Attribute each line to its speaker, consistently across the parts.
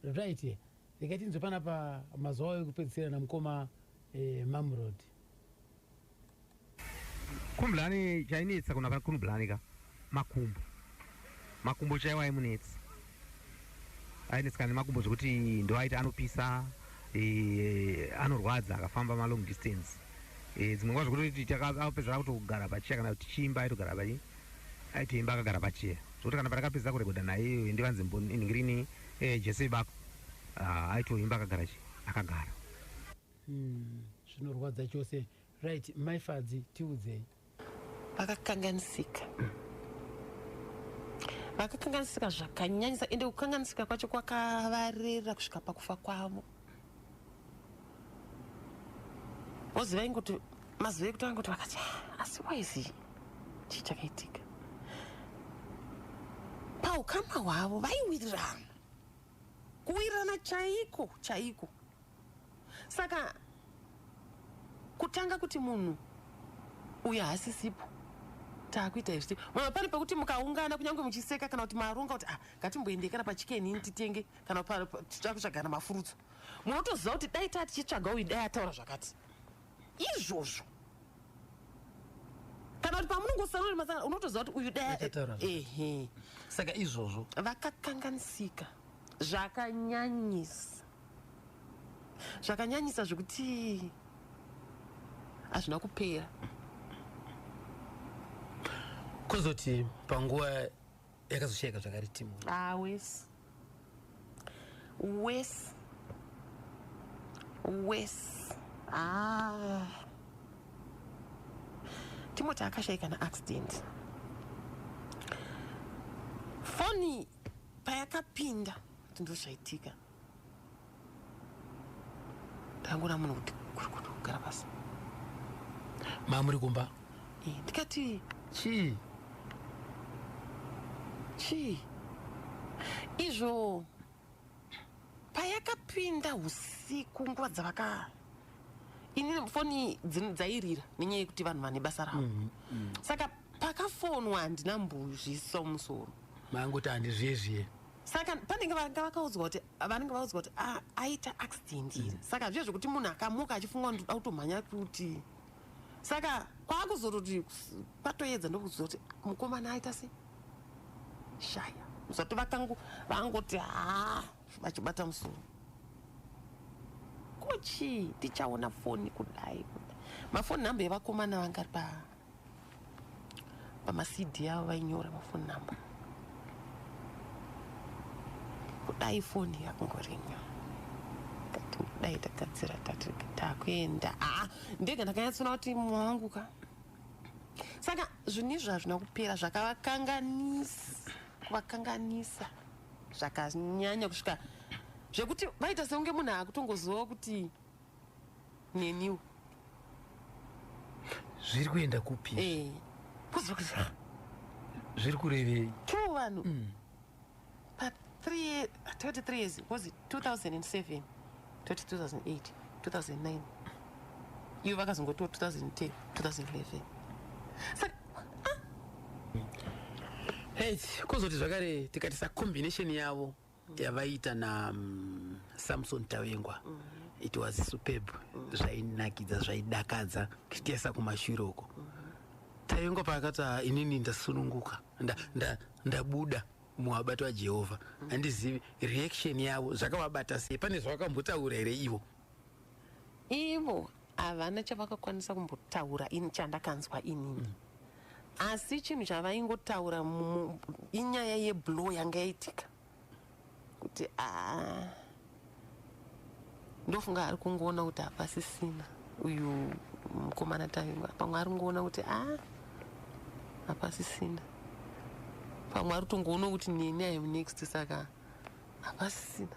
Speaker 1: Right here. Rega tinzwe panapa mazuva ayo ekupedzisira namukoma eh, Mamrod.
Speaker 2: Kumblani chainetsa kuna pa kumblani ka makumbo. Makumbo chaiwa aimunetsa. Ainetsa kana makumbo zvekuti ndoaita anopisa eh, anorwadza akafamba ma long distance. Eh, dzimwe nguva zvekuti takapedzera kutogara pachiya kana kuti chimba aitogara pachiya. Aiti imba akagara pachair zvokuti kana pandakapedza kurekoda naye iyoyo ndivanzi ngirini eh, jese ibako ah, aito imba akagara chi akagara hmm,
Speaker 1: zvinorwadza chose right mai fadzi tiudzei vakakanganisika
Speaker 3: vakakanganisika zvakanyanyisa ende kukanganisika kwacho kwakavarera kusvika pakufa kwavo voziva ingoti mazuva ekutanga kuti vakati ah, asi waizi chii chakaitika paukama hwavo vaiwirirana kuwirirana chaiko chaiko saka kutanga kuti munhu uyo haasisipo taakuita izvi mama pane pekuti mukaungana kunyange muchiseka kana kuti maronga kuti ah ngatimboendekana pachikeni ini titenge kana takutsvagana mafurutsu munotoziva kuti dai taa tichitsvaga uyu dai ataura zvakati izvozvo kana kuti pamunongosarori masana unotoziva kuti uyu dai ehe saka
Speaker 1: izvozvo vakakanganisika
Speaker 3: zvakanyanyisa zvakanyanyisa zvekuti hazvina kupera
Speaker 1: kuzoti panguva yakazoshayika zvakare timu ah wes wes
Speaker 3: wes ah timoti akashayika naaccident foni payakapinda kuti ndoshaitika ndangona munhu kuti kuri kuti kugara pasi
Speaker 1: mamuri kumba eh, ndikati
Speaker 3: chii
Speaker 1: chii
Speaker 3: izvo payakapinda usiku nguva dzavaka ini foni dzairira nenyaya yekuti vanhu vane basa ravo mm -hmm. saka pakafonwa handina mbuzviso musoro mangoti
Speaker 1: handizvezviye saka panenge
Speaker 3: vanga vakaudzwa kuti vanenge vaudzwa kuti ah, aita accident here mm. saka zviye zvekuti munhu akamuka achifunga kuti ndoda kutomhanya kuti saka kwakuzototi kwatoedza ndokuziva kuti mukomana aita se shaya zati vakangu vangoti ha vachibata musoro kuchii tichaona foni kudai kudai mafoni number yevakomana vangari pa pamacd yavo vainyora mafoni number kudai foni yakungorinya dai tagadzira tati takuenda aa ndege ndakanyatsona kuti mwangu ka saka zvinhu izvi hazvina kupera zvakavakanganisa kuvakanganisa zvakanyanya kusvika zvekuti vaita sekunge munhu akutongoziva kuti neniwo
Speaker 1: zviri kuenda kupi eh, kuzokuzva zviri kurevei two vanhu mm. pa three years toti three
Speaker 3: years was it 2007 toti 2008 2009 ivo vakazongotiwo 2010 2011 saka
Speaker 1: ah. hei kuzoti zvakare tikatisa combination yavo yavaiita na um, samson tavengwa mm -hmm. it was superb mm -hmm. zvainakidza zvaidakadza kutesa kumashure uko mm -hmm. tavengwa paakati ah, inini ndasununguka ndabuda nda, nda muvabato vajehovha handizivi reaction yavo zvakavabata sei pane zvavakambotaura here ivo Ivo
Speaker 3: havana chavakakwanisa kumbotaura ini chandakanzwa inini. Mm. Asi chinhu chavaingotaura inyaya yeblow yanga yaitika. Kuti ah ndofunga ari kungoona kuti hapasisina uyu mukomana tavimba pamwe ari kungoona kuti ah hapasisina pamwe ari kutongoona kuti neni iam next saka hapasisina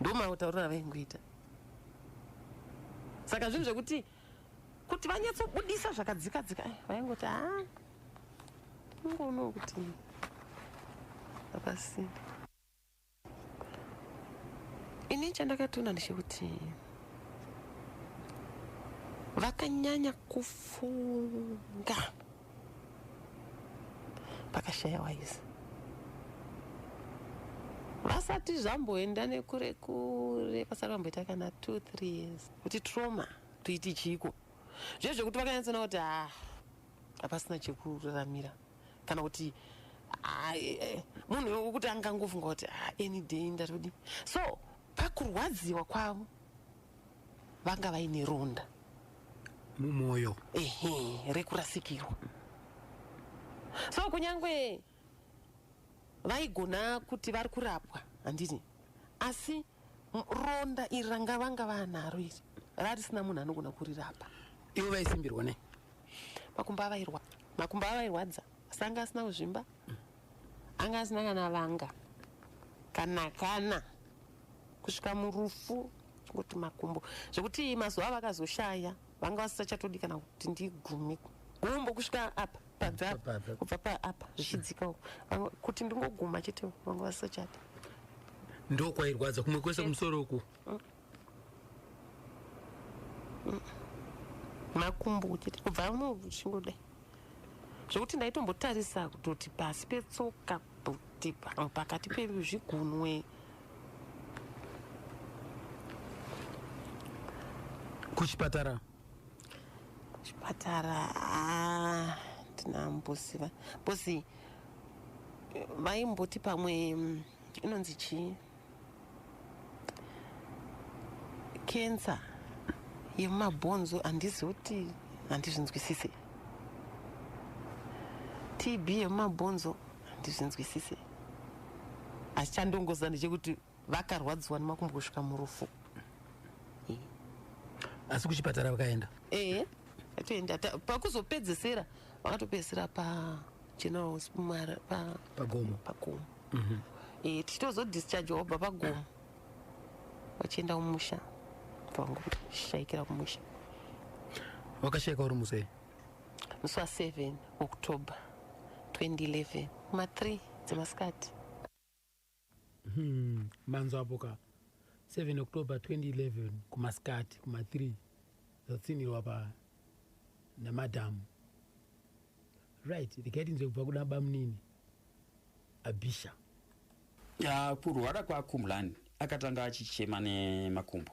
Speaker 3: ndomatauriro avaingoita saka zvinhu zvekuti kuti vanyatsobudisa zvakadzika dzika eh, vaingoti a ah, ingoonawo kuti hapasisina ini chandakatoona ndechekuti vakanyanya kufunga pakashaya waizi vasati zvamboenda nekure kure pasati vamboita kana two three years kuti trauma toiti chiiko zviye zvekuti vakanyatsona kuti ha ah, hapasina chekuraramira kana kuti ah, eh, eh, munhu wekuti angangofunga kuti ah, any day ndatodi so pakurwadziwa kwavo vanga vaine ronda
Speaker 1: mumwoyo ehe
Speaker 3: rekurasikirwa so kunyange vaigona kuti vari kurapwa handiti asi ronda iri ranga vanga vanaro iri rarisina munhu anogona kurirapa ivo vaisimbirwa
Speaker 1: nei makumbo
Speaker 3: avairwa makumbo avairwadza asi anga asina kuzvimba anga asina kana vanga kana kana kusvika murufu kuti makumbo zvekuti mazuva avakazoshaya vanga vasisachatodi kana kuti ndigumi gumbo kusvika apa pabvakubva paapa zvichidzika uku kuti ndingoguma chete vanga vasisachadi
Speaker 1: ndokwairwadza kumwe kwese kumusoro uku
Speaker 3: makumbo uchiti kubva muchingoda zvekuti ndaitombotarisa kutoti pasi petsoka kuti pakati pezvigunwe
Speaker 1: kuchipatara chipatara ah,
Speaker 3: tina mbusi mbusi vaimboti pamwe mm, inonzi chii kensa yemumabhonzo handizi kuti handizvinzwisise tb yemumabhonzo handizvinzwisise asi chandongoziva ndechekuti vakarwadziwa nemakumbo kusvika murufu
Speaker 1: asi kuchipatara vakaenda ee
Speaker 3: atoenda pakuzopedzesera vakatopedzesera pa general house pamara pa pagomo pagomo mm-hmm. e, tichitozo discharge wabva pagomo vachienda kumusha vangu shaikira kumusha
Speaker 1: wakashaika uri musei musi wa
Speaker 3: 7 october 2011 ma 3 dzemasikati Hmm,
Speaker 1: manzwa apo ka 7 october 2011 kumasikati kuma 3 zvatsinirwa pa namadhamu right rikaitinzwe kubva kuda bamunini abisha
Speaker 4: ya kurwara kwakumlan akatanga achichema nemakumbo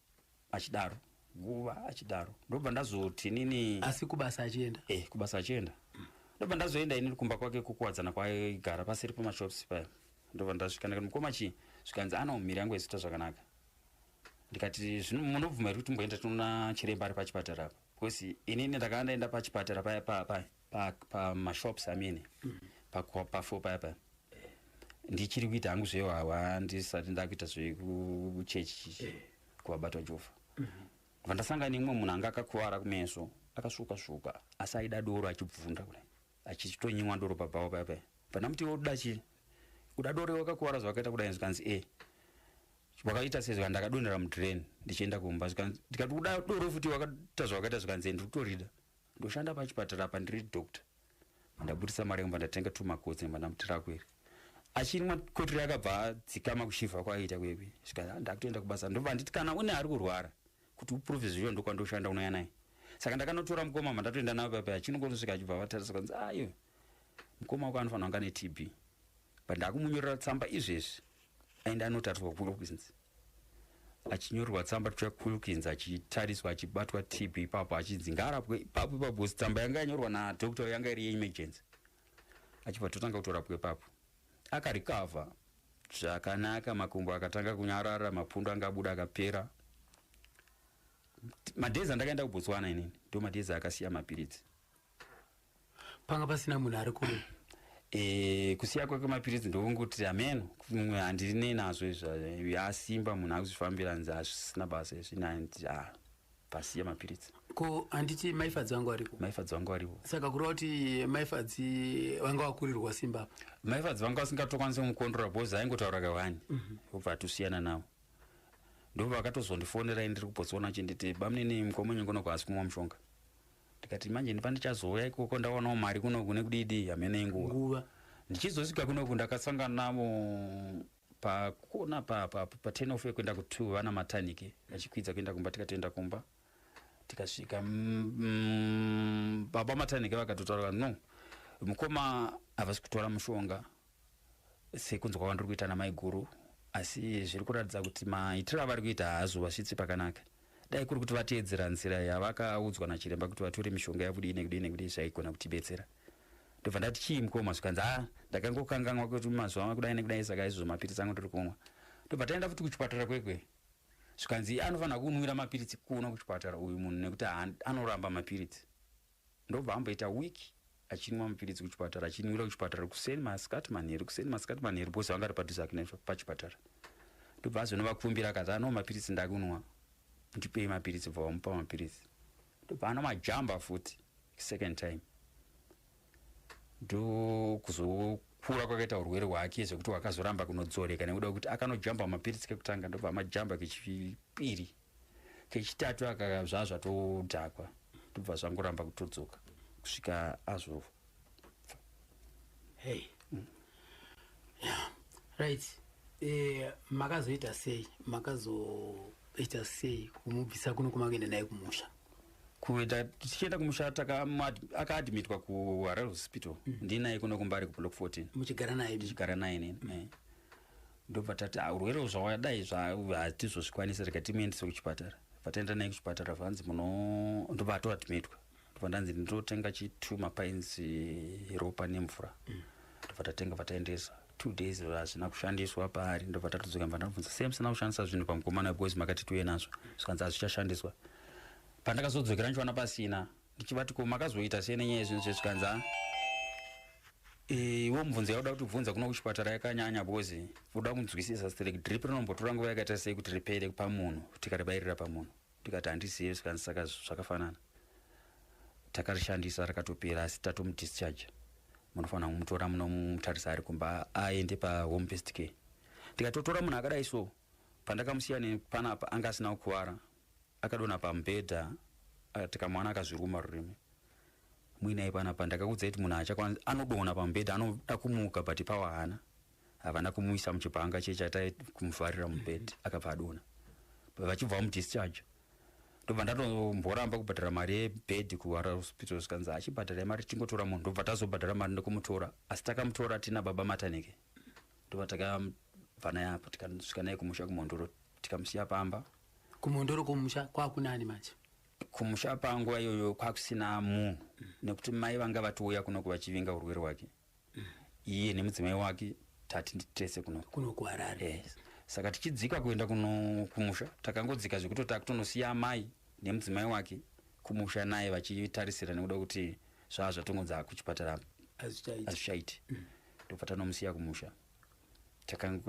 Speaker 4: achidaro nguva achidaro ndobva ndazoti nini asi kubasa achienda
Speaker 1: eh kubasa achienda
Speaker 4: mm. ndobva ndazoenda ini kumba kwake kukuwadzana kwaigara pasiri pamashops paya ndobva ndasvika ndikati mukoma chii zvikanzi ana umhiri yangu ezita zvakanaka ndikati zvino munobvuma here kuti mboenda tinoona chiremba ari pachipatara apa because inini ndakanga ndaenda pachipatara paya paya paya pamashops pa amene mm. pafuo paya paya ndichiri kuita hangu zveyo hawa ndisati ndakuita zvekuchechi eh. kuvabatwa jova mm -hmm. vandasanga neumwe munhu anga akakuvara kumeso akasvuka svuka asi aida doro achibvunda kudai achitonyimwa doro pabhawa paya paya pandamuti iwe uda chii uda doro wakakuvara zvawakaita kudai zvikanzi e wakaita se zvikanzi ndakadonhera mudrain ndichienda kumba ndikati uda doro futi wakaita zvawakaita zvikanzi e ndiri kutorida ndoshanda pachipatara apa ndiri doctor ndabudisa mari yangu ndatenga tumakotsi namba ndamutira kweri achinwa kotiri akabva adzikama kushivha kwaiita kwebi sika ndakutoenda kubasa ndobva nditi kana une ari kurwara kuti uprove zviyo ndokwandoshanda unouya naye saka ndakanotora mukoma ma ndatoenda nayo papi achinongonosvika achibva vatarisa kwanzi ayo mukoma wako anofanira kunga netb but ndakumunyorera tsamba izvezvi aenda anotariswa kuwilkins achinyorerwa tsamba tya kuwilkins achitariswa achibatwa tb ipapo achinzi ngaarapwe ipapo ipapo bcause tsamba yanga yanyorwa nadoctor yanga iri yeemergency achibva totanga kutorapwa ipapo akarikavha zvakanaka makumbo akatanga kunyarara mapundu anga abuda akapera madhezi andakaenda kubotswana inini ndo madhezi akasiya mapiritsi
Speaker 1: panga pasina munhu ari kuno e,
Speaker 4: kusiya kwake mapiritsi ndokungoti hameno mumwe handiri nei nazvo izvi asimba munhu akuzvifambira nzi hazvisina basa izvi nandi ah, pasiya mapiritsi ko handiti
Speaker 1: maifadzi vangu variko maifadzi vangu variko saka kureva kuti maifadzi vanga vakurirwa simba apa maifadzi vanga vasingatokwanisa
Speaker 4: kumukondora bhozi aingotaura kawani mhm. obva atosiyana navo ndobva akatozondifonera ndiri kubotswana chinditi bamnini mukomonyongonoko asi kumwa mushonga ndikati manje ndipandichazouya ikoko ndawanawo mari kuno kune kudidi hamene inguva nguva ndichizosvika kunoku ndakasangana navo pakona pa, pa, pa 10 of yekuenda ku2 vana matanike vachikwidza kuenda kumba tikatoenda kumba tikasvika mm, mm, baba matanike vakatotaura no mukoma havasi kutora mushonga sekunzwa kwandiri kuita namaiguru asi zviri kuratidza kuti maitiro avari kuita haazovasvitsi pakanaka dai kuri kuti vateedzera nzira yavakaudzwa nachiremba kuti vatore mishonga yakudii nekudii nekudii zvaigona kutibetsera ndobva ndati chii mukoma zvikanzi ha ah, ndakangokanganwa kuti mazuva makudai nekudai saka izvozvo mapiritsi angu ndiri kumwa ndobva taenda futi kuchipatara kwekwe zvikanzi anofanira kunwira mapiritsi kuno kuchipatara uyu munhu nekuti anoramba mapiritsi Ndobva amboita week achinwa mapiritsi kuchipatara achinwira kuchipatara kuseni masikati manheru kuseni masikati manheru bhozi vanga ri padhuze ake pachipatara ndobva azonovakumbira akati anoo mapiritsi ndakunwa ndipei mapiritsi bva vamupa mapiritsi ndobva anwa majamba futi second time ndokuzokura kwakaita urwere hwake zvekuti wakazoramba kunodzoreka nekuda kwekuti akanojamba mapiritsi kekutanga ndobva amajamba kechipiri kechitatu aka zvazva todhakwa tobva zvangoramba kutodzoka kusvika azvo hey.
Speaker 1: mm. yeah. right eh, makazoita sei makazoita sei kumubvisa kuno kumakuenda naye kumusha kuita
Speaker 4: tichienda kumusha akaadmitwa kuharare hospital mm. ndinaye kuno kumbari kublock 14 muchigara naye ndichigara
Speaker 1: naye nini mm. eh.
Speaker 4: ndobva tati ah, urwere zvawadayi zvatizozvikwanisa rega timuendese kuchipatara vataenda naye kuchipatara vanzi muno ndobva ato admitwa ndobva ndanzi ndinotenga chitu mapainzi ropa nemvura mm. ndobva tatenga vataendesa two days hazvina kushandiswa paari ndobva tatodzoka mva ndabvunza same sina kushandisa zvinhu pamukomana because makati tuye nazvo zvikanzi hazvichashandiswa pandakazodzokera ndichiwana pasina ndichivati ko makazoita sei nenyaya yezvinhu zve zvikanzi a iwo mubvunzo yakuda kuti bvunza kuno kuchipatara yakanyanya because uda kunzwisisa site like drip rinombotora nguva yakaita sei kuti ripere pamunhu tikaribairira pamunhu ndikati handizive zvikanzi saka zvakafanana takarishandisa rakatopera asi tatomudischarge munofanira kumutora munomutarisa ari kumba aende pahome first care ndikatotora munhu akadai so pandakamusiya nepanapa anga asina kukuvara Akadonha pamubhedha akati kamwana akazviruma rurimi. Mwinai panapa ndakakuudzai kuti munhu achakwana anodonha pamubhedha anoda kumuka but pawa hana. Havana kumuisa muchibhanga chiye chatai kumuvharira mubhedha akabva adonha. Vachibva vamudischarge ndobva ndatomboramba kubhadhara mari yebhedhi kuhara hospital zvikanzi achibhadhara mari tingotora munhu ndobva tazobhadhara mari ndokumutora asi takamutora tina baba mataneke ndobva takabva naye apa tikasvika naye kumusha kumhondoro tikamusiya pamba kumhondoro kumusha
Speaker 1: kwakunani manje kumusha
Speaker 4: panguva iyoyo kwakusina munhu nekuti mai vanga vatouya kunoku vachivinga urwere hwake iye nemudzimai wake tati tese kunoku kunoku harare
Speaker 1: yes. saka tichidzika
Speaker 4: kuenda kuno kumusha takangodzika zvekuti takutonosiya amai nemudzimai wake kumusha naye vachitarisira nekuda kuti zvaa zvatongonza kuchipatara azvichaiti mm. ndobva tanomusiya kumusha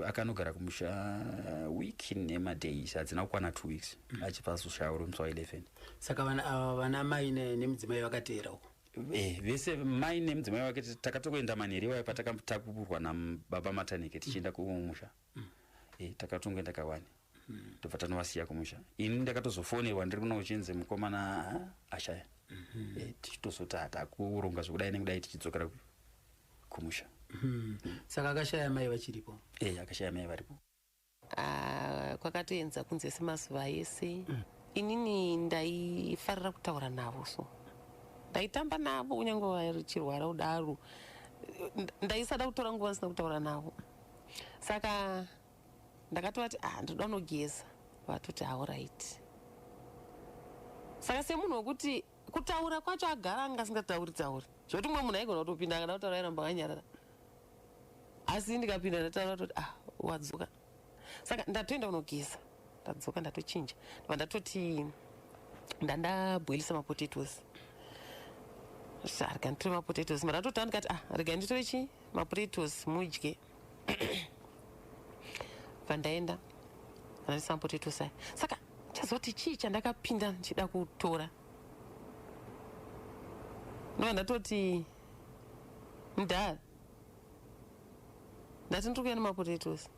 Speaker 4: akanogara kumusha uh, week nemadays hadzina kukwana two weeks mm. achibva azoshaura musi wa 11 saka vana, uh,
Speaker 1: vana mai nemudzimai vakateera uko Eh, vese
Speaker 4: mai nemudzimai wake takatokuenda manheri iwayo patakatakuburwa nababa matanike tichienda kumusha mm. eh, takatongoenda kawani mm-hmm. tobva tanovasiya kumusha ini ndakatozofonerwa ndiri kuno uchinzi mukomana ashaya mm-hmm. eh, tichitozoti hatakuronga zvekudai nekudai tichidzokera kumusha mm-hmm. mm.
Speaker 1: saka akashaya mai vachiripo e akashaya mai varipo
Speaker 4: ah, kwakatoenza
Speaker 3: kunze semazuva ese mm. inini ndaifarira kutaura navo so ndaitamba navo kunyange vachirwara kudaro ndaisada kutora nguva asina kutaura navo saka ndakatovati ah ndoda unogeza vatoti auraiti saka semunhu wekuti kutaura kwacho agara anga asingatauri tauri zvekuti umwe munhu aigona kutopinda akada kutaura airamba akanyarara asi ndikapinda ndataura toti ah wadzoka saka ndatoenda kunogeza ndadzoka ndatochinja ndova ndatoti ndandabhoilisa mapotatoes rega nditore mapotatoes mara atotanga ndikati ah rega nditore chii mapotatoes mudye vandaenda vandisambotitusai saka chazoti chii chandakapinda ndichida kutora ndova ndatoti mdara ndati ndiri kuya nemapotatoes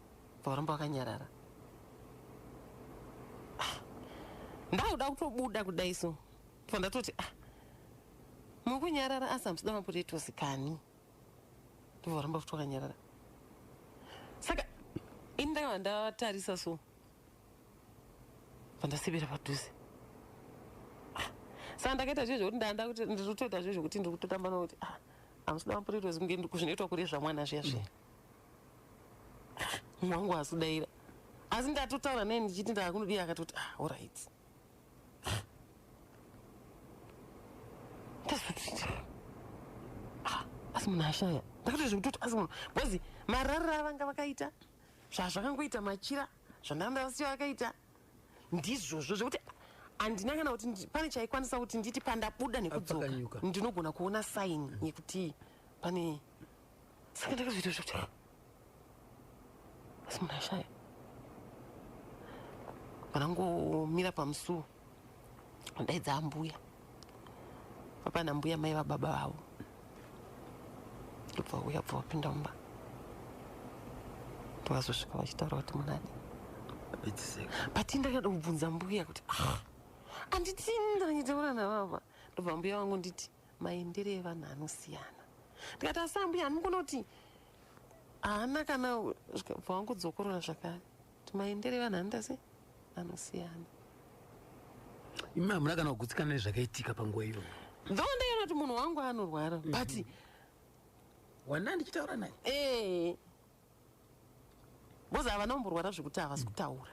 Speaker 3: vauramba wakanyarara ah, ndakuda kutobuda kudai so ndova ndatoti ah, mukunyarara asi hamusida mapotatoes kani ndivo varamba futi vakanyarara saka ini ndakava ndatarisa so vandasebera padhuze ah, saka ndakaita zve zvekuti ndanda kuti ndiri kutoita zve zvekuti ndiri kutotamba nokuti ah, amusida mapurito zvinge kuzvinoitwa kuri zvamwana zviya zviya mwangu mm. asidaira asi ndatotaura naye ndichiti ndakunodii akatoti ah, orit ah, asi munhu ashaya ndakatoti zvekutoti asi munhu bcozi marariro avanga vakaita zvazvakangoita machira zvandanga ndavasiya vakaita ndizvozvo zvekuti handina kana kuti pane chaikwanisa kuti nditi pandabuda nekudzoka ndinogona kuona saini yekuti pane saka ndakazoita zvekuti asi munhu ashaya panangomira pamusuwo ndaidza ambuya apana mbuya mai vababa vavo ndobva uya bva wapinda mumba ndokazosvika vachitaura kuti munani but ndakada kubvunza mbuya kuti ah, anditi ndanyitaura navava ndobva mbuya vangu nditi maendere evanhu anosiyana ndikati asi ambuya handimukona kuti haana kana bva wangudzokorora zvakare kuti maendere evanhu anoita sei anosiyana
Speaker 1: imi hamuna kana kugutsikana nezvakaitika panguva iyoyo tho ndaiona kuti
Speaker 3: munhu wangu anorwara but mm-hmm.
Speaker 1: wanda ndichitaura naye ee eh.
Speaker 3: Boza ava nomborwara zvekuti havasi kutaura.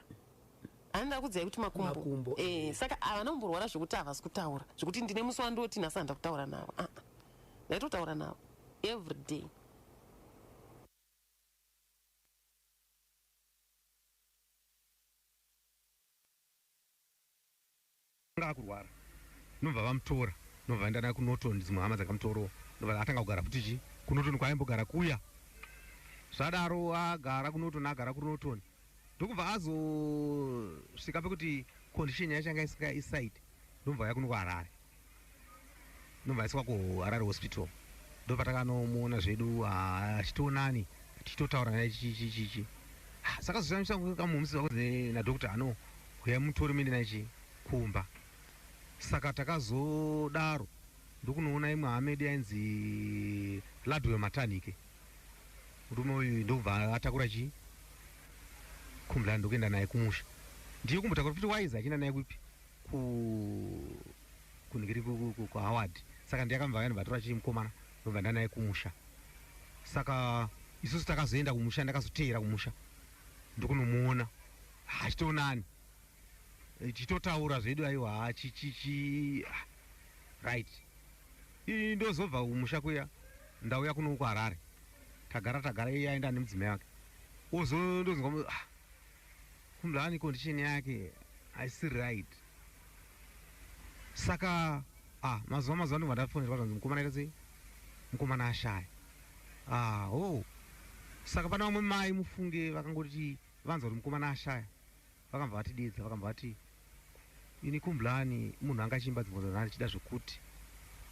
Speaker 3: Anoda kudzai kuti makumbo. Makumbo. Eh, saka ava nomborwara zvekuti havasi kutaura. Zvekuti ndine musi wandoti nhasi handa kutaura navo. Ah. ah. Ndaitotaura navo every day.
Speaker 2: Akanga akurwara ndobva vamutora ndobva vaenda naye kuNorton dzimwe hama dzakamutorowo ndobva atanga kugara futi chii kuNorton kwaaimbogara kuya zvadaro agara kuNorton agara kuNorton ndokubva azosvika pekuti condition yacho yanga isingaite ndobva auya kuno kuHarare ndobva aiswa kuharare hospital ndopatakanomuona zvedu ah, achitionani tichitotaura naye chichichichi ah, saka zoshamisa kamuhomisi vako nadokta ano huya mutori mende naye chi kumba saka takazodaro ndokunoona imwe hamedi yainzi ladwe matanike murume uyu ndokubva atakura chii kumla ndokuenda naye kumusha ndiye kumbotakura kuti waiza achienda naye kupi ku kunhu kiri kuhoward saka ndiyakamva vanhu vatora chiri mukomana ndobva ndanaye kumusha saka isusu takazoenda kumusha ndakazoteera kumusha ndokunomuona hachitoonani chitotaura zvedu aiwa chichichi ah, right ii ndozobva kumusha kuya ndauya kuno kuharare tagara tagara iye aenda nemudzimai wake ozondozwa ah, Khumblani condition yake haisi right saka ah, mazuva mazuva ndobva ndafonerwa zvanzi mukomana aita sei mukomana ashaya ah, oh. saka pana vamwe mai mufunge vakangoti vanzwa kuti mukomana ashaya vakambva vatidedza vakambva vati Ini kumblani munhu anga achiimba dzimbo dzanhare ndichida zvekuti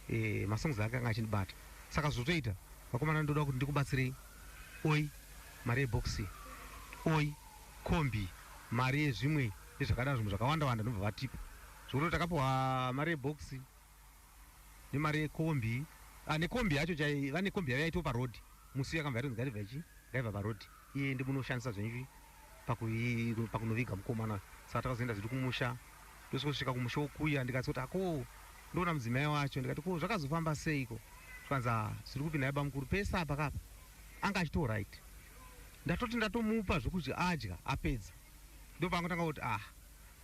Speaker 2: eh, masongs ake anga achindibata saka zvotoita vakomana ndoda kuti ndikubatsirei oi mari yeboxi oi kombi mari yezvimwe nezvakadaro zvimwe zvakawanda wanda ndobva vatipa zvekuti takapiwa mari yeboxi nemari yekombi ah, nekombi yacho chai vane kombi yavo yaitwa parodi musi yakabva yatonzi ngaibva ichi ngaibva parodi iye ndimunoshandisa zvenyu pakunoviga mukomana saka takazoenda zvedu kumusha ndosvika kumusha wokuya ndikati kuti ako ndoona mudzimai wacho ndikati ko zvakazofamba seiko zvikanzi ah, zviri kupi naye bamukuru pese apa kapa anga achito right ndatoti ndatomupa zvokuti adya apedza ndopaangotanga kuti ah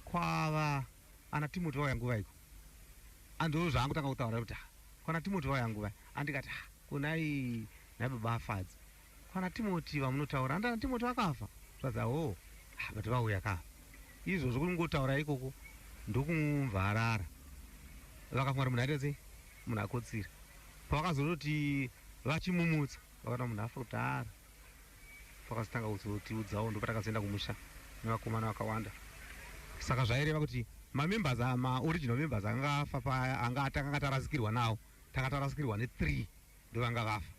Speaker 2: kwava ana timoti vauya nguva iko andoo zvaangotanga kutaura kuti ah, kwana timoti vauya nguva andikati ah, kunai nababa afadzi Kwana Timoti vamunotaura handana naTimoti vakafa zvadza hoo ah, but vauya ka izvo zvokungotaura ikoko ndokumvarara vakafungara munhu aita sei munhu akotsira pavakazototi vachimumutsa vakaona munhu afa kudhara pakazotanga kuzotiudzawo ndopatakazoenda kumusha nevakomana vakawanda saka zvaireva kuti mamembers maoriginal members anga afa paya anga atanga tarasikirwa nawo tanga tarasikirwa ne3 ndovanga vafa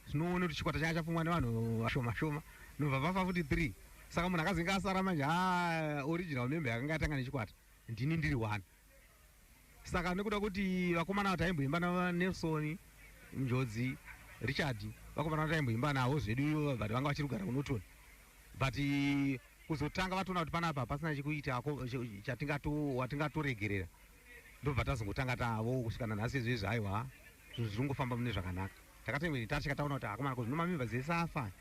Speaker 2: zvinoona kuti chikwata changa chapfumwa nevanhu vashoma shoma nobva vafa futi 3 saka munhu akazenge asara manje ha original membe yakanga yatanga nechikwata ndini ndiri one saka nekuda kuti vakomana ava taimboimba nanelson njodzi richard vakomana ava taimboimba navo zvedu ivo but vanga vachiri kugara kunoton but kuzotanga vatoona kuti panapa pasina chekuita watingatoregerera ndobva tazongotanga tavo kusvika nanhasi izvezvi haiwa zvinhu zviri kungofamba mune zvakanaka takatoimweni tasvika taona kuti akomana ko zvinomamimba dzese afa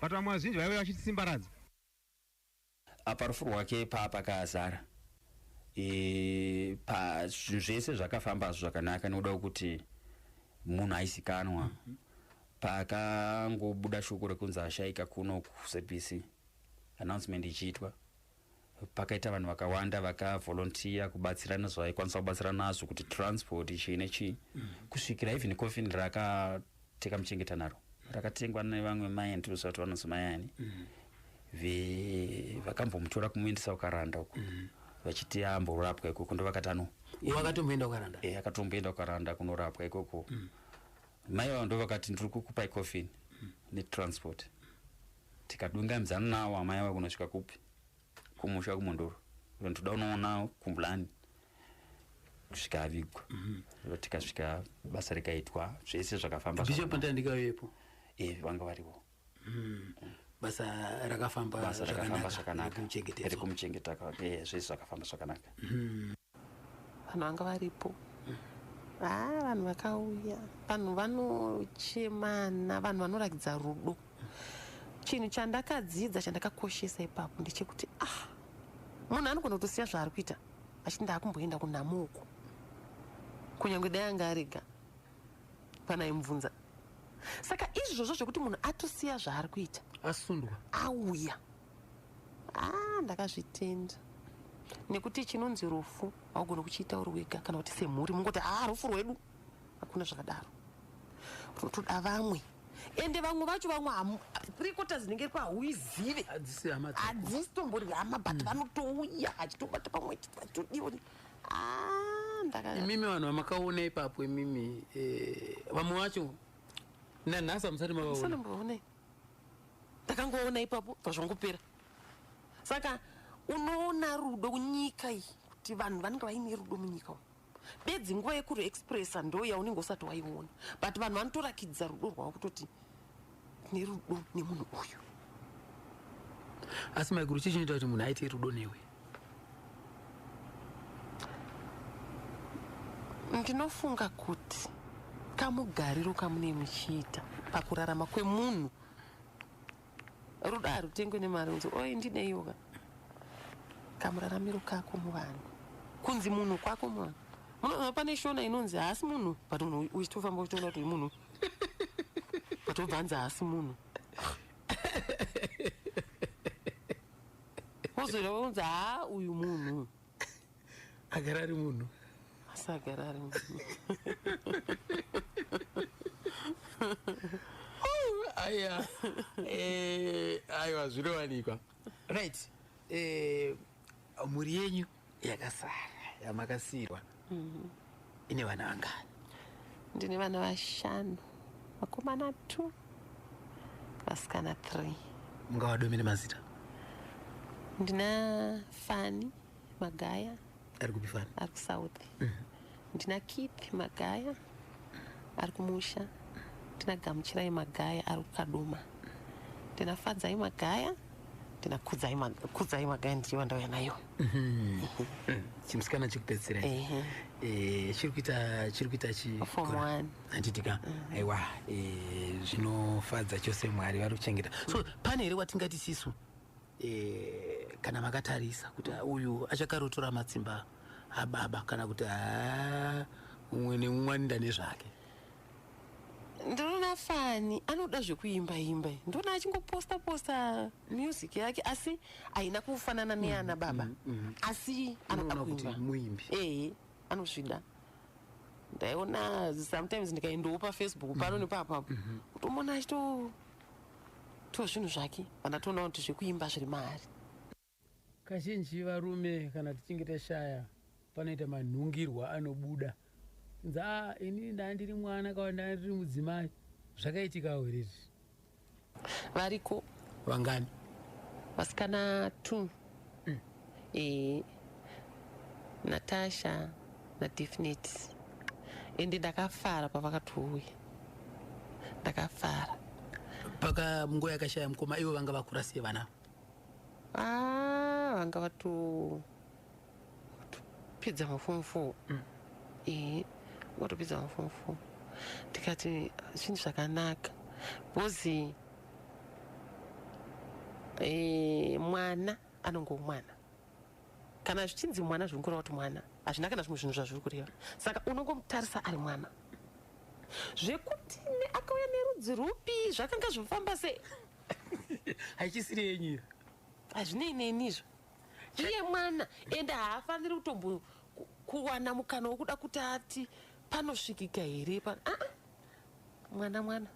Speaker 2: but vamwe vazhinji vaive vachitisimbaradza
Speaker 4: apa rufu rwake paa pakazara e, pa zvinhu zvese zvakafamba hazvo zvakanaka nekuda kwekuti munhu aizikanwa mm -hmm. paakangobuda shoko rekunzi ashaika kuno kucbc announcement ichiitwa pakaita vanhu vakawanda vakavolontiya kubatsira nezvaikwanisa kubatsira nazvo kuti transport chii nechii mm. kusvikira even coffin rakateka muchengeta naro rakatengwa nevamwe mai andiroziva kuti vanonzi mai ani mm. vakambomutora kumuendesa kukaranda uko mm. vachiti amborapwa ikoko ndo vakati ano akatomboenda
Speaker 1: kukaranda e akatomboenda kukaranda
Speaker 4: kunorapwa ikoko mai vavo ndo vakati ndiri kukupai coffin netransport tikadunganidzana nawo amai ava kunosvika kupi kumusha kumondoro vanhu toda unoonawo kumbulani kusvika avigwa mhm. ro tikasvika basa rikaitwa zvese zvakafamba bishop pandandikavepo
Speaker 1: e eh, vanga
Speaker 4: variwo mhm.
Speaker 1: basa rakafamba
Speaker 4: zvakanaka rekumuchengeta kwake eh, zvese zvakafamba zvakanaka mhm.
Speaker 3: vanhu vanga varipo haa ah, vanhu vakauya vanhu vanochemana vanhu vanorakidza rudo chinhu chandakadzidza chandakakoshesa ipapo ndechekuti ah munhu anogona kutosiya zvaari kuita achiti ndaakumboenda kunhamo uko kunyange dai anga arega panaimubvunza saka izvozvo zvekuti munhu atosiya zvaari kuita asundwa
Speaker 1: auya
Speaker 3: ah ndakazvitenda nekuti chinonzi rufu haugoni kuchiita uri wega kana kuti semhuri mungoti haa ah, rufu rwedu hakuna zvakadaro runotoda vamwe ende vamwe vacho vamwe rekota dzinenge riko hauizive hadzisi tombori hama but mm. vanotouya achitobata pamwe achitodiwa ah,
Speaker 1: imimi vanhu vamakaona ipapo imimi eh, vamwe vacho nanhasi hamusati mavaona
Speaker 3: ndakangoona ipapo pazvangopera saka unoona rudo kunyika iyi kuti vanhu vanenge vaine rudo munyika umu bedzi nguva yekuri expressa ndo yaunenge usati waiona but vanhu vanotorakidza rudo rwavo kutoti tine rudo nemunhu uyu
Speaker 1: asi maiguru chii chinoita kuti munhu aite rudo newe
Speaker 3: ndinofunga kuti kamugariro kamune muchiita pakurarama kwemunhu rudo harutengwe nemari unzi oi ndineiyoka kamuraramiro kako muvanhu kunzi munhu kwako muvanhu munoona pane shona inonzi haasi munhu but munhu uchitofamba uchitoona kuti munhu but obvanzi haasi munhu Wozwira wonza ha uyu munhu.
Speaker 1: Agara ari munhu. Asagara
Speaker 3: ari munhu.
Speaker 1: Aya. Eh, ayo azvirowanikwa. Right. Eh, mhuri yenyu yakasara yamakasiirwa mhm. ine vana vangani ndine vana
Speaker 3: vashanu vakomana two vasikana three mungawadomene
Speaker 1: mazita ndina
Speaker 3: fani magaya ari kupi fani
Speaker 1: ari kusouth mhm.
Speaker 3: Ndina Keith Magaya ari kumusha, ndina Gamuchirai Magaya ari kuKadoma, ndina Fadzai Magaya, ndina Kudzai Magaya, Kudzai Magaya ndichiva ndauya nayo. Mhm. Chimusikana
Speaker 1: chikupedzisira Ehe. eh chiri kuita chiri kuita chi Form kora. one.
Speaker 3: handiti ka
Speaker 1: aiwa eh, zvinofadza chose mwari vari kuchengeta so pane here watingati sisu eh, kana makatarisa kuti ah, uyu achakarotora matsimba ababa kana kuti ah, umwe neumwe anoenda nezvake ndinoona
Speaker 3: fani anoda zvekuimba imba ndinoona achingoposta posta music yake asi haina kufanana neana baba mm, mm, mm. asi anoda kuimba muimbi ehe
Speaker 1: anozvida
Speaker 3: ndaiona sometimes ndikaendawo pafacebook pano mm-hmm. nepapapo mm-hmm. kutomona achito to zvinhu zvake kana toonawo kuti zvekuimba zviri maari
Speaker 1: kazhinji varume kana tichinge tashaya panoita manhungirwa anobuda nzi a ah, ini ndaa ndiri mwana kawa ndaa ndiri mudzimai zvakaitikawo here izvi
Speaker 3: variko vangani
Speaker 1: vasikana
Speaker 3: two Mm. E, Natasha naDefinite ende ndakafara pavakatouya ndakafara paka
Speaker 1: mungo yakashaya mukoma ivo vanga vakura sei vana ah,
Speaker 3: vanga vatopedza mafomu four mm. e, vatopedza mafomu four ndikati zvinhu zvakanaka bhozi Eh, mwana anonge umwana kana zvichinzi mwana zviri kureva kuti mwana hazvina kana zvimwe zvinhu zvazviri kureva saka unongomutarisa ari mwana zvekuti akauya nerudzi rupi zvakanga zvifamba sei
Speaker 1: haichisiri yenyu hazvinei
Speaker 3: neni izvo iye mwana ende haafaniri kutombo kuwana mukana wokuda kuti ati panosvikika here pa ah, ah. mwana mwana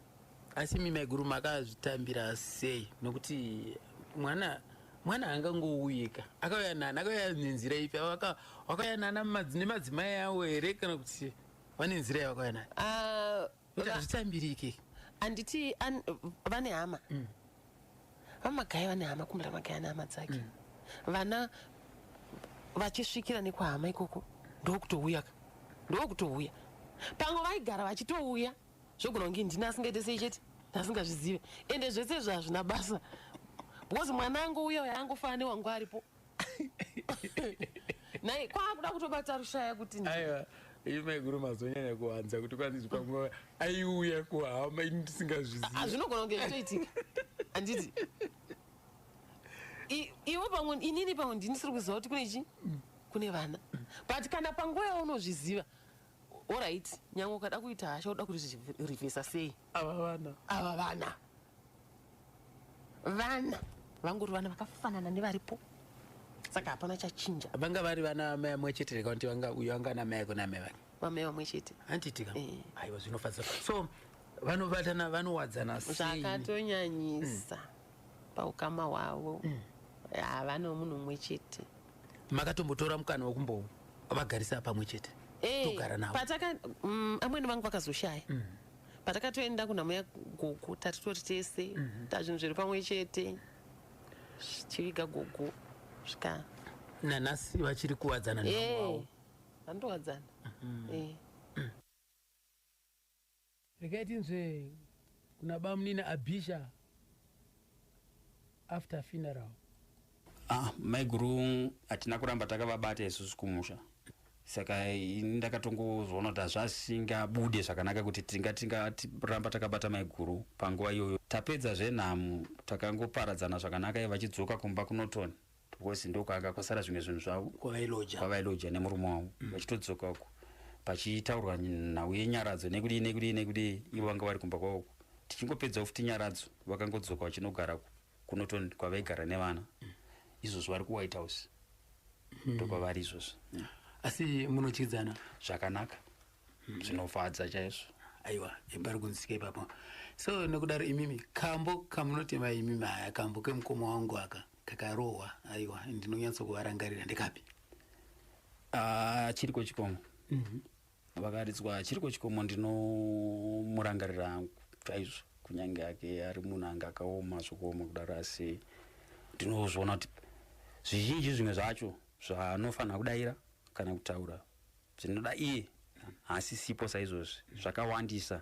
Speaker 3: asi imi maiguru
Speaker 1: makazvitambira sei nokuti mwana mwana angangouyika akauya nani akauya nenzira ipi wakauya nana nemadzimai awo here kana kuti vane nzira yavakauya nayo ah, kuti hazvitambirike handiti
Speaker 3: vane hama mm. vamagaya vane hama kumbe ramagaya ane hama dzake mm. vana vachisvikira nekwahama ikoko ndokutouya ka ndokutouya pamwe vaigara vachitouya zvogona kunge ndini asingaite sei chete asingazvizive ende zvese izvo hazvina basa because mwana angu uya uya angofanira newangu aripo nai kwakuda kutobata rushaya kuti aiwa iyi
Speaker 1: maiguru mazonyanya kuwanza kuti kwandizi pamwe aiuya kuhama ini ndisingazvizivi ah, zvinogona kunge zvitoitika
Speaker 3: handiti iwo pamwe inini pamwe ndinisiri kuziva kuti kune chi kune vana but kana panguva yaunozviziva orit nyange ukada kuita hasha uda kuririvhesa sei ava vana ava
Speaker 1: vana
Speaker 3: vana vangori vana vakafanana nevaripo saka hapana chachinja vanga vari vana amai
Speaker 1: amwe chete reka kuti vanga uyo anga ana mai ako naamai vake vamai vamwe chete
Speaker 3: handitika Eh.
Speaker 1: aiwa zvinofadza so vanobatana vanowadzana sei zvakatonyanyisa
Speaker 3: paukama hwavo havana munhu umwe chete makatombotora
Speaker 1: mukana wekumbovagarisa pamwe chete Eh, togara navo pataka mm, amwene
Speaker 3: vangu vakazoshaya patakatoenda kunhamuya gogo tatitori tese mhm. tazvinhu zviri pamwe chete chiviga gogo svika nanhasi
Speaker 1: vachiri kuwadzana navo vanotowadzana
Speaker 3: mhm.
Speaker 1: regai tinzve kuna bamunini abisha after funeral Ah, maiguru
Speaker 4: hatina kuramba takavabata isusu kumusha saka ini ndakatongozoona kuti hazvasingabude zvakanaka kuti tinga tingaramba takabata maiguru panguva iyoyo tapedza zvenhamo takangoparadzana zvakanaka iye vachidzoka kumba kunotoni because ndokwaanga kwasara zvimwe zvinhu zvavo kwavailoja nemurume wavo mm. vachitodzoka uko pachitaurwa nhau yenyaradzo nekudii nekudii nekudii ivo vanga vari kumba kwavoko tichingopedza futi nyaradzo vakangodzoka vachinogara kunoton kwavaigara nevana izvozvo vari kuwhite house hmm. ndokwavari izvozvo asi
Speaker 1: munotyidzana zvakanaka
Speaker 4: hmm. zvinofadza chaizvo aiwa pari
Speaker 1: kunzika ipapo so nokudaro imimi kambo kamunotema imimi haya kambo kemukoma wangu aka kakarohwa aiwa ndinonyatso kuvarangarira ndikapi ah,
Speaker 4: chiriko chikomo mhm. vakaridzwa chiri kwechikomo ndinomurangarira hangu chaizvo kunyange ake ari munhu ange akaoma zvokuoma kudaro asi ndinozviona kuti zvizhinji zvimwe zvacho zvaanofanira kudaira kana kutaura zvinoda iye haasisipo saizvozvi zvakawandisa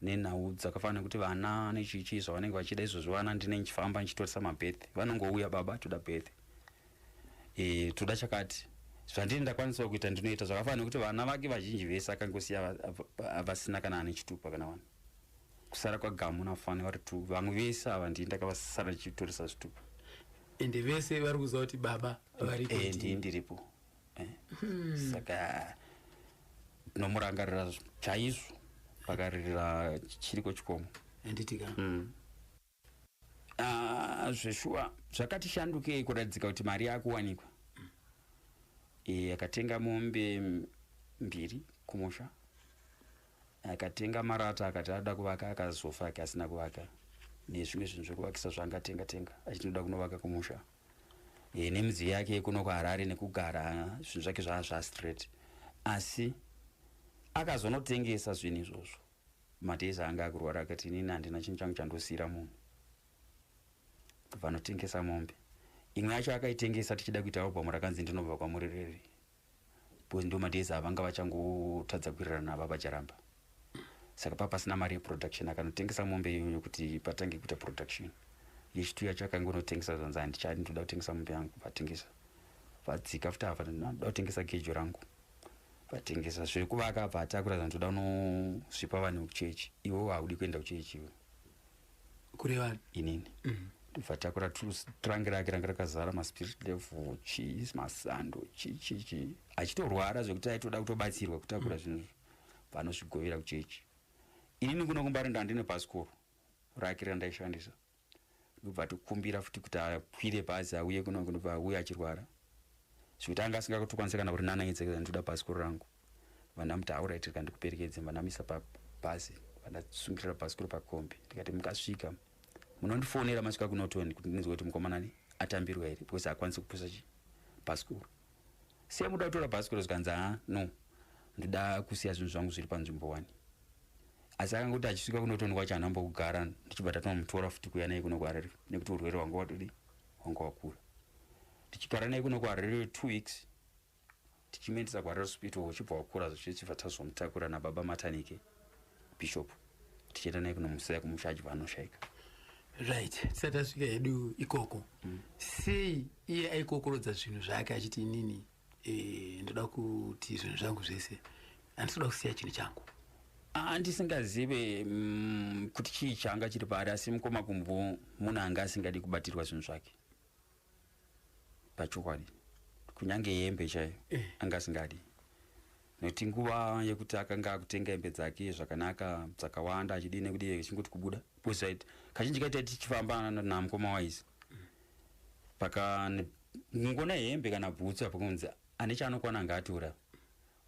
Speaker 4: nenhau dzakafana nekuti vana nechichii zvavanenge vachida izvozvo vana ndine ndichifamba ndichitoresa mabirth vanongouya baba toda birth e, toda chakati zvandini ndakwanisawo kuita ndinoita zvakafana nekuti vana vake vazhinji vese akangosiya vasina kana ane chitupa kana vanhu kusara kwagamu nafani vari two vamwe vese ava ndii ndakavasara ndichitoresa zvitupa ende vese
Speaker 1: vari kuziva kuti baba varipondii eh, ndiripo
Speaker 4: eh? hmm. saka tinomurangarira chaizvo pakaririra chiriko chikomo anditika
Speaker 1: hmm.
Speaker 4: ah, zveshuwa zvakatishandukei kuratidzika kuti mari yakuwanikwa hmm. eh, akatenga mombe mbiri kumusha akatenga marata akati ada kuvaka akazofa ake asina kuvaka nezvimwe zvinhu zvekuvakisa zvaangatenga tenga achitinoda kunovaka kumusha e, nemidziyo yake yekuno kuharare nekugara zvinhu zvake zvaa zvastraight asi akazonotengesa zvinhu izvozvo madays anga akurwara akati inini handina chinhu changu chandosiyira munhu vanotengesa mombe imwe yacho akaitengesa tichida kuita album rakanzi ndinobva kwamuri riri because ndo madays avanga vachangotadza kuwirirana baba charamba saka paa pasina mari yeproduction akanotengesa mombe iyoyo kuti patange kuita production yechitu yacho akangonotengesa zvanzi handichadi ndoda kutengesa mombe yangu vatengesa vadzika futi ava ndoda kutengesa gejo rangu vatengesa zvekuvaka abva atakura zvanzi ndoda unosvipa vanhu kuchechi iwewo haudi kuenda kuchechi iwe kureva
Speaker 1: inini
Speaker 4: mm. ndibva takura trange rake ranga rakazara maspirit level chii masando chii chii chii achitorwara zvekuti aitoda kutobatsirwa kutakura mm. zvinhu mm. vanozvigovera kuchechi inini kuno kumbari ndandine pasikoro rake randaishandisa ndobva tokumbira futi kuti akwire bhazi auye kuno kunobva auye achirwara zvekuti anga asingakatokwanisa kana kuti nanaidza ndinoda pasikoro rangu vana muti aurai tiri kandikuperekedze vanamisa pabhazi vandasungirira bhasikoro pakombi ndikati mukasvika munondifonera masvika kunotoni kuti ndinzwa kuti mukomanani atambirwa here because hakwanisi kupusa chi bhasikoro siya muda kutora bhasikoro zvikanzi ha no ndoda kusiya zvinhu zvangu zviri panzvimbo wani asi akanga kuti achisvika kunotoni kwacho hanamba kugara ndichibva tatinomutora futi kuya naye kuno kuharare nekuti urwere hwanga watodi hwanga wakura tichigara naye kuno kuharare two weeks tichimuendesa kuharare hospital uchibva wakura zvichichibva tazomutakura nababa matanike bishop tichienda naye kunomusiya kumusha achibva anoshaika right
Speaker 1: tisati asvika hedu ikoko mm. sei iye aikokorodza zvinhu zvake achiti inini e, ndoda kuti zvinhu zvangu zvese handisoda kusiya chinhu changu andisingazive
Speaker 4: mm, kuti chii changa chiri paari asi mukoma kumbo munhu anga asingadi kubatirwa zvinhu zvake pachokwadi kunyange yembe chaiyo eh. anga asingadi nekuti nguva yekuti akanga akutenga hembe dzake zvakanaka dzakawanda achidii nekudi chingoti kubuda bcause kazhinji kaita tichifamba namukoma waizi paka ngona hembe kana bhutsu apa kunzi ane chaanokwana anga atora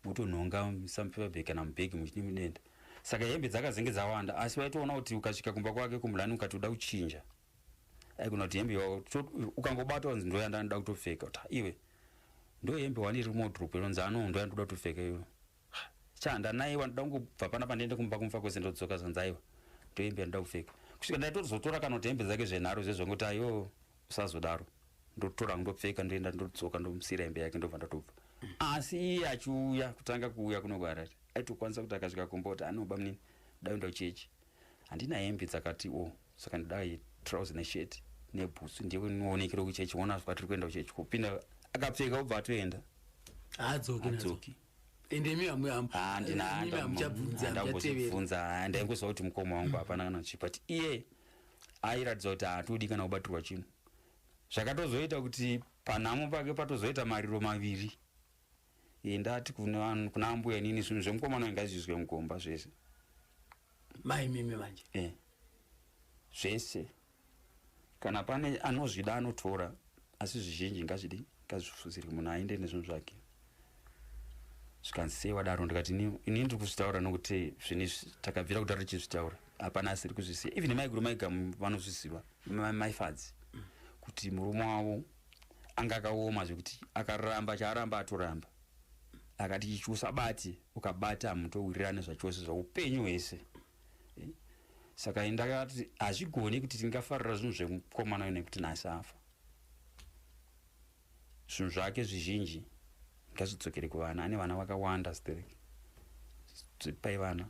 Speaker 4: mutonhonga musamupepabhe kana mubhegi muchinimudenda saka hembe dzakazenge dzawanda asi waitoona kuti ukasvika kumba kwake kumulani ukati uda kuchinja aikunoti hembe ukangobata wanzi ndo yandanoda kutopfeka kuti iwe ndo hembe wani iri mudrop inonzi ano ndo yandoda kutopfeka iyo chanda naye wandoda kungobva pana pandiende kumba kumfa kwese ndodzoka zvanzi aiwa ndo hembe yandoda kupfeka kusvika ndaitozotora kana kuti hembe dzake zvenharo zvezvongoti ayo usazodaro ndotora ndopfeka ndoenda ndodzoka ndomusira hembe yake ndobva ndatobva asi iye achiuya kutanga kuuya kunogara aitokwanisa kuti akasvika kumba kuti anoba munini daenda kuchechi handina hembe dzakati o oh. saka ndidai trouse neshet nebhutsu ndinoonekera kuchechi wona sva tiri kuenda kuchechi kupinda akapfeka obva atoenda haadzoki
Speaker 1: endemiamuchabvunza
Speaker 4: ndaingoziva kuti mukoma wangu hapana kana chi but iye airatidza kuti haatodi kana kubatirwa chinhu zvakatozoita kuti panhamo pake patozoita mariro maviri Eh, ndati kuna vanhu- kuna ambuya inini zvinhu zvemukomana uyu ngazviizwe mugomba zvese
Speaker 1: mai mimi manje Eh.
Speaker 4: zvese kana pane anozvida anotora asi zvizhinji ngazvidi ngazvifuzirwe munhu aende nezvinhu zvake zvikanzi sei wadaro ndikati "Ini- ini ndiri kuzvitaura nokuti zvini izvi takabvira kudaro tichizvitaura hapana asiri kuzvisiya even maiguru maigamu vanozviziva ma- maifadzi kuti murume wavo anga akaoma zvekuti akaramba chaaramba atoramba akati chichusa bati ukabata hamutowirirane zvachose zvaupenyu hwese eh, saka ndakati hazvigone kuti tingafarira zvinhu zvemukomana uyu nekuti nhasi afa zvinhu zvake zvizhinji ngazvidzokere kuvana ane vana vakawanda sterek pai vana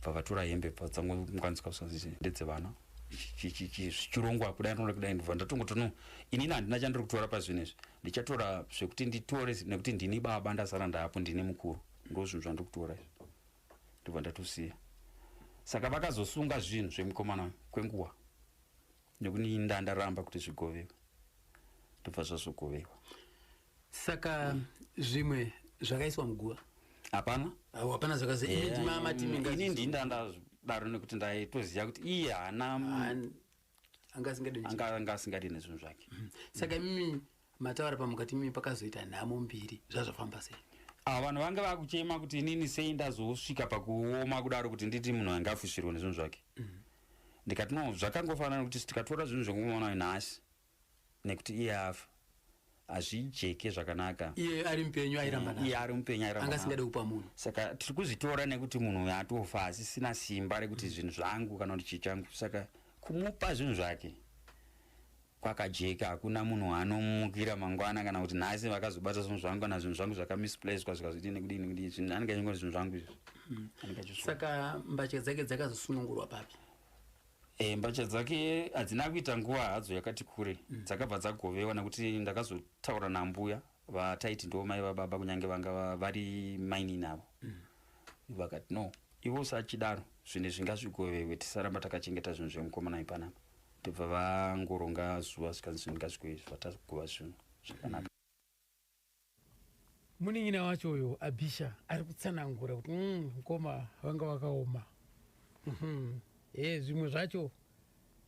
Speaker 4: bva vatora hembe bva vatsangomukanisika kusonzi ndedzevana zvichirongwa kudai anoona kudai ndibva ndatongoti no inini handina chandiri kutora pazvinhu izvi ndichatora zvekuti nditore nekuti ndini baba ndasara ndaapo ndini mukuru ndo zvinhu zvandiri kutora izvi ndibva ndatosiya saka vakazosunga zvinhu zvemukomana kwenguva nekuni ndandaramba kuti zvigovewa ndobva zvazogovewa saka
Speaker 1: zvimwe zvakaiswa muguva hapana hapana zvakazainini
Speaker 4: ndii ndandadaro nekuti ndaitoziva kuti iye haana anga asingadi nezvinhu zvake mhm. saka imimi
Speaker 1: mataura pamukati imimi pakazoita nhamo mbiri zvazvafamba sei ah, vanhu vange
Speaker 4: vakuchema kuti inini sei ndazosvika pakuoma kudaro kuti nditi munhu ange afusirwa nezvinhu zvake mhm. ndikati no zvakangofanana kuti tikatora zvinhu zvekumuona nhasi nekuti iye afa hazvijeke zvakanaka iye ari mupenyu
Speaker 1: airamba eh, iye ari mupenyu airamba anga
Speaker 4: asingade kupa munhu
Speaker 1: saka tiri kuzvitora
Speaker 4: nekuti munhu uyo atofa asisina simba rekuti mm. zvinhu zvangu kana kuti chichangu saka kumupa zvinhu zvake kwakajeka hakuna munhu anomukira mangwana kana kuti nhasi vakazobata zvinhu zvangu kana zvinhu zvangu zvakamisplacwa zvikazotii nekudini kudii zvinhu anenge achingoti zvinhu zvangu izvi mm. saka
Speaker 1: mbatya dzake dzakazosunungurwa papi E,
Speaker 4: mbatya dzake hadzina kuita nguva hadzo yakati kure mm. dzakabva dzagovewa nekuti ndakazotaura nambuya vataiti ndo mai vababa kunyange vanga vari mainini avo mm. vakati no ivo usachidaro zvinhu zvingazvigovewe tisaramba takachengeta zvinhu zvemukomana ipanapa ndobva vangoronga zuva zvikanzi zvinhu ngazvigoe zvatagova zvinhu zvakanaka mm.
Speaker 1: munin'ina wacho uyo abisha ari kutsanangura kuti mm, mkoma vanga vakaoma mm-hmm. e, zvimwe zvacho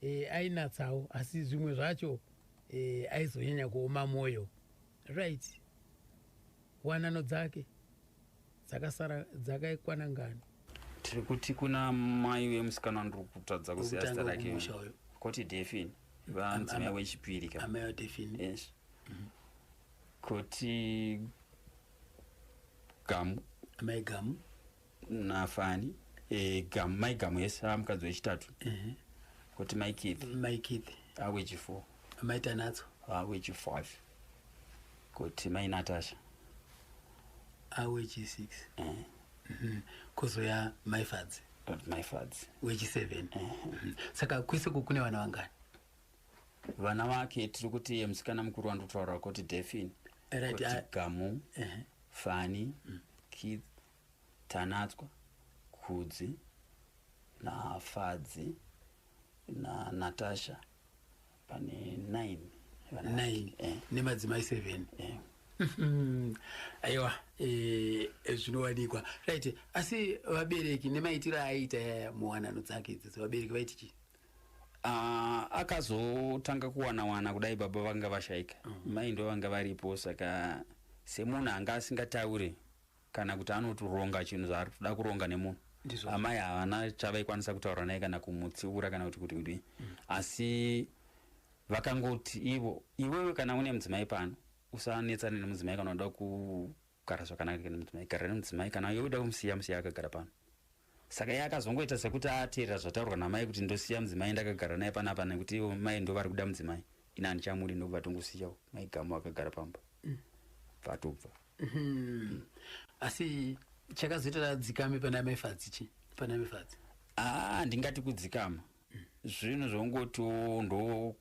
Speaker 1: e, ainatsawo asi zvimwe zvacho e, aizonyanya kuoma mwoyo right wanano dzake dzakasara dzakaikwana ngani tiri kuti
Speaker 4: kuna mai vemusikana ndiri kutadza kuziva zita rake koti defin vanzi mai wechipiri ka amai wadefin yes mhm. koti gamu amai gamu
Speaker 1: nafani
Speaker 4: e, gamu mai gamu yes amukadzi wechitatu mhm. koti mai keith mai keith
Speaker 1: awechifour
Speaker 4: amai tanatso
Speaker 1: awechifive
Speaker 4: kuti mai natasha awechis6 ah, eh.
Speaker 1: mhm. kuzouya mai fadzi mai fadzi
Speaker 4: wechi7 eh. mhm.
Speaker 1: saka kwese ku kune vana vangani
Speaker 4: vana vake tiri kuti ye musikana mukuru wandotaura kuti defin kuti ah. gamu eh. fani mm. kid tanatswa kudzi nafadzi nanatasha pane 9 vana vake. 9 Eh,
Speaker 1: nemadzimai 7 eh. Mhm. aiwa eh, zvinowanikwa right asi vabereki nemaitiro aaita muwanano dzake idzidzi vabereki vaiti chii Ah, akazotanga
Speaker 4: kuwana wana kudai baba vanga vashaika mai ndo vanga varipo saka semunhu anga asingataure kana kuti anotoronga chinhu zvaari kutoda kuronga nemunhu Ndizvo. amai havana chavaikwanisa kutaura naye kana kumutsiura kana kuti kuti kudii asi vakangoti ivo iwewe kana une mudzimai pano usanetsane nemudzimai kana uda kugara zvakanaka nemudzimai gara nemudzimai kana iwe uda kumusiya musiya akagara pano saka iye akazongoita sekuti ateerera zvataurwa namai kuti ndosiya mudzimai ndakagara naye panapa nekuti ivo mai ndo vari kuda mudzimai ini handichamuri ndokubva tongosiyawo mai gamu akagara pamba mm. vatobva mm-hmm.
Speaker 1: asi chakazoita tadzikame pana mai fadzi chi pana mai fadzi aa ah, ndingati
Speaker 4: kudzikama mm. zvinhu zvongoti ndo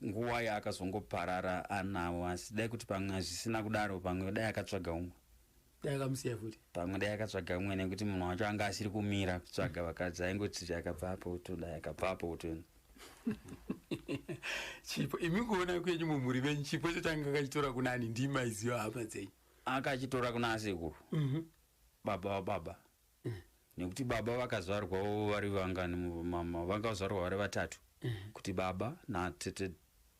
Speaker 4: nguva yaakazongoparara anawo asi dai kuti pamwe hazvisina kudaro pamwe dai akatsvaga umwe dai akamusiya
Speaker 1: futi pamwe dai akatsvaga
Speaker 4: umwe nekuti munhu wacho anga asiri kumira kutsvaga vakadzi aingoti akabvapo uto dai akabvapo uto
Speaker 1: chipo imi kuona kwenyu mumhuri venyu chipo icho changa akachitora kuna ani ndimaiziva hama dzenyu akachitora kuna
Speaker 4: asekuru Mhm. baba wababa nekuti baba vakazvarwawo vari vangani mama vakazvarwa vari vatatu kuti baba natete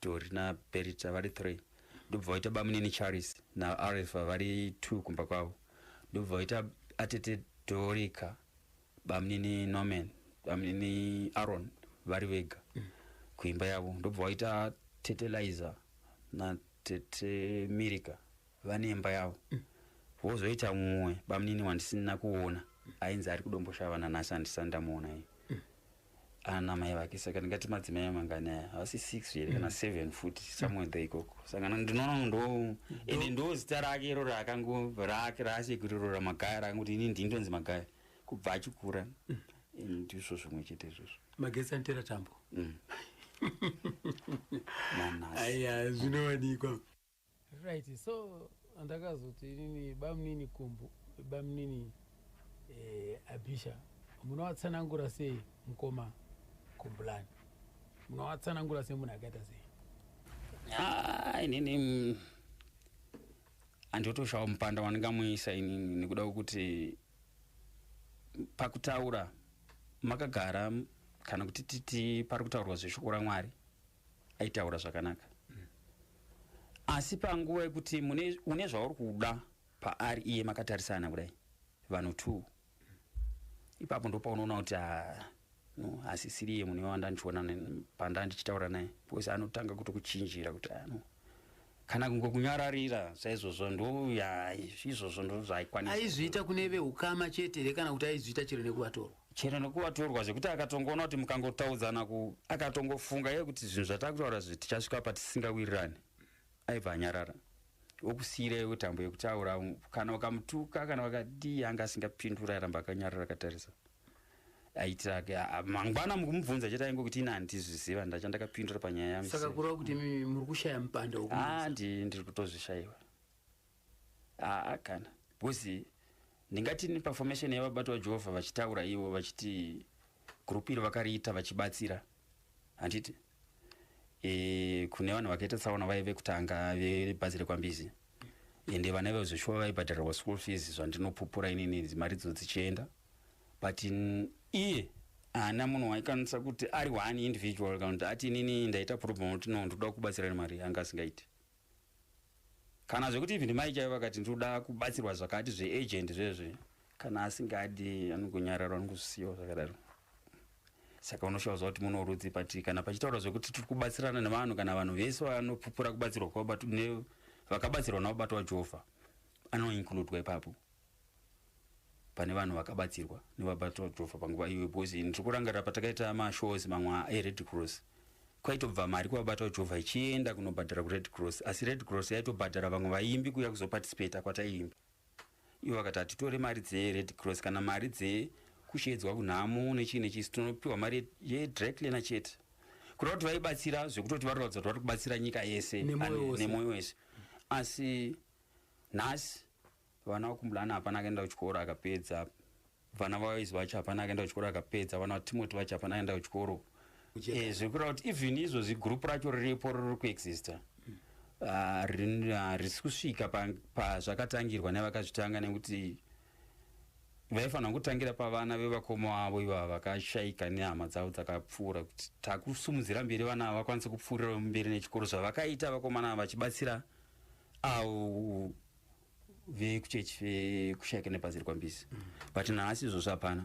Speaker 4: dori naberita vari three ndobva vaita bamunini charis naarifa vari two kumba kwavo ndobva vaita atete dorika bamunini norman bamunini aron vari vega kuimba yavo ndobva vaita tete liza natete mirika vane imba yavo vozoita mumwe bamunini wandisina kuona ainzi ari kudomboshava nanhasi andisani ndamuona iye ana mai vake saka ndingati madzimai amangani aya havasi six here kana seven futi somewhere there ikoko saka na- ndinoona ndo ende ndo zita rake iro raakango rake raasekuru iro ramagaya rakanguti ini ndini ndonzi magaya kubva achikura ndizvo zvimwe chete izvozvo magetsi anotera tambo
Speaker 1: Mm. nanhasi aya zvinowanikwa Right, so ndakazoti inini bamnini kumbu bamnini eh, abisha munovatsanangura sei mukoma kumbulani munovatsanangura sei munhu akaita sei Ah, inini mm,
Speaker 4: handiotoshava mupanda wandingamuisa inini nekuda kwekuti pakutaura makagara m- kana kuti titi pari kutaurwa zveshoko ramwari aitaura zvakanaka asi panguva yekuti une zvauri kuda paari iye makatarisana kudai vanhu two ipapo ndopaunoona kuti ah, no asisiri iye mune wandandiona panda ndichitaura naye because anotanga kutokuchinjira kuti ano ah, kana kungokunyararira saizvozvo ndouya
Speaker 1: izvozvo ndozvaikwanisa aizviita
Speaker 4: kune
Speaker 1: veukama
Speaker 4: chete here
Speaker 1: kana kuti aizviita chero nekuvatorwa chero
Speaker 4: nekuvatorwa zvekuti akatongoona kuti mukangotaudzana ku akatongofunga ye kuti zvinhu zvatakutaura zvi tichasvika patisingawirirani aibva anyarara okusiirei utambo yekutaura kana ukamutuka kana wakadii anga asingapindura aramba akanyarara akatarisa aitirake mangwana mukumubvunza chete ainge kuti ini handizviziva ndachandakapindura panyaya yangu saka kureva kuti imi muri
Speaker 1: kushaya mupanda handi ndiri
Speaker 4: kutozvishaiwa aa kana because ndingati neperformation yevabati vajehovha vachitaura ivo vachiti group iri vakariita vachibatsira handiti e, kune vanhu vakaita tsaona vaive vekutanga vebhazi rekwambizi ende vana ivo zveshuwa vaibhadharirwa school fees zvandinopupura inini mari dzo dzichienda but iye haana munhu waikwanisa kuti ari one individual kana kuti ati inini ndaita problem kuti no ndoda kubatsira nemari anga asingaiti kana zvekuti even mai chaivo vakati ndinoda kubatsirwa zvakati zveagent zvezve kana asingadi anongonyarara anongozvisiyawo zvakadaro saka unoshaudza kuti munorudzi pati kana pachitaura zvekuti tiri kubatsirana nevanhu kana vanhu vese vanopupura kubatsirwa kwavabato vakabatsirwa navabato wajehovha anoinkludwa ipapo pane vanhu vakabatsirwa nevabatwa jova panguva iyoyo because ndiri kurangarira patakaita mashows mamwe ared cross kwaitobva mari kuvabatwa jova ichienda kunobhadhara kured cross asi red cross yaitobhadhara vamwe vaimbi kuya kuzoparticipata kwataiimba ivo vakati hatitore mari dzered cross kana mari dzekushedzwa kunhamo nechii nechii tinopiwa mari yedryclener chete kureva kuti vaibatsira zvekutoti vari kuratidza kuti vari kubatsira nyika yese nemoyo wese asi nhasi Vana vakumbulana hapana akaenda kuchikoro akapedza. Vana vawayizi vacho hapana akaenda kuchikoro akapedza. Vana vaTimoti vacho hapana akaenda kuchikoro. Eh, zviri kureva kuti even izvo zigroup racho riripo riri kuexista harisi kusvika pazvakatangirwa nevakazvitanga nekuti vaifanira kutangira pavana vevakoma vavo ivava vakashaika nehama dzavo dzakapfuura kuti takusumudzira mberi vana ava vakwanise kupfuurira mberi nechikoro zvavakaita vakomana ava vachibatsira avo vekuchechi vekushayika nepaziri kwambizi but nhasi izvozvo hapana